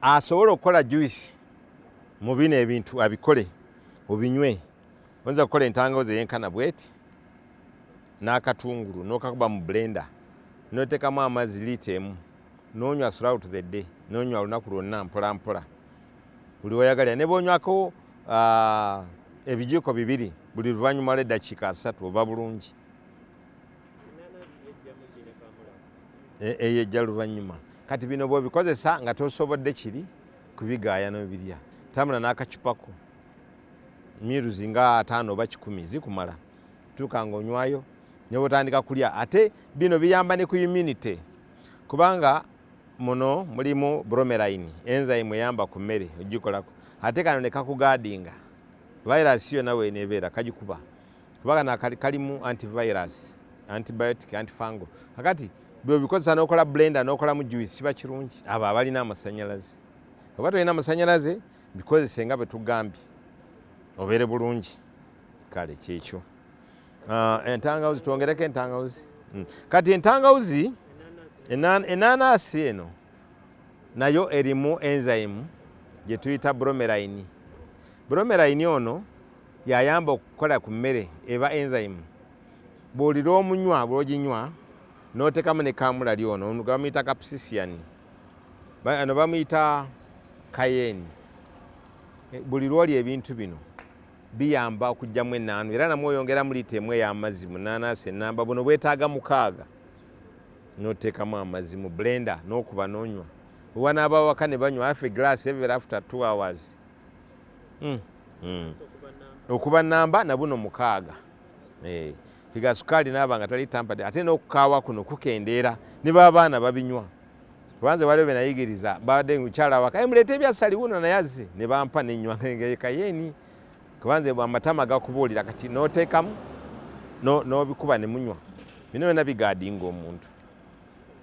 asobola okukola juice mu bino ebintu abikole obinywe oyinza okukola entangawuzi eyenkana bweti n'akatungulu n'okakuba mu blender n'oteekamu amazzi liita emu n'onywa throughout the day n'onywa olunaku lwonna mpolampola buli weyagalira ne bwonywako ah, ebijiiko bibiri buli luvannyuma lw'eddakiika asatu oba bulungi e, eyo ejja luvannyuma kati bino bwobikozesa nga tosobodde kiri kubigaaya nobirya tambula n'akacupako miruzi nga ataano oba kikumi zikumala tuuka nga onywayo nebwotandika kulya ate bino biyamba ne ku immunity kubanga muno mulimu bromeline enzyme eyamba ku mmere ogikolako ate kano nekakugaadinga virus yo nawe nebeera kagikuba kuba kana kalimu antivirus antibiotic antifango akati bwebikozesa nokola blender nokolamu juice kiba kirungi abo abalina amasanyalaze oba tolina amasanyalaze bikozese nga bwetugambye obeere bulungi kale kyekyo ah, entangawuzi twongereko entangawuzi hmm. kati entangawuzi enanasi eno nayo erimu enzyme gyetuyita bromeline bromeline ono Yayamba okukola ku mmere eba enzyme. Bw'olira omunywa bw'oginywa n'oteekamu ne kaamulali ono ono gwe bamuyita kapsisian ano bamuyita kayeeni. Eh, buli lw'olya ebintu bino biyamba okuggyamu ennaanu era namwe oyongeramu liita emu ey'amazzi mu nnaanaasi ennamba buno bwetaaga mukaaga n'oteekamu amazzi mu blenda n'okuba n'onywa wewanaaba awaka ne banywa afe glass ever after two hours mm. mm. okuba namba nabuno mukaaga eh, piga sukaali naaba nga tali tampade ate n'okukaawa kuno kukendeera ne baabaana babinywa kubanze waliwo benayigiriza babadde mukyala waka eh, muleete ebyasali wuno naye azze ne bampa nenywa ngekayeeni kubanze amatama gakubuulira kati n'oteekamu n'obikuba ne munywa bino byona bigaadinga omuntu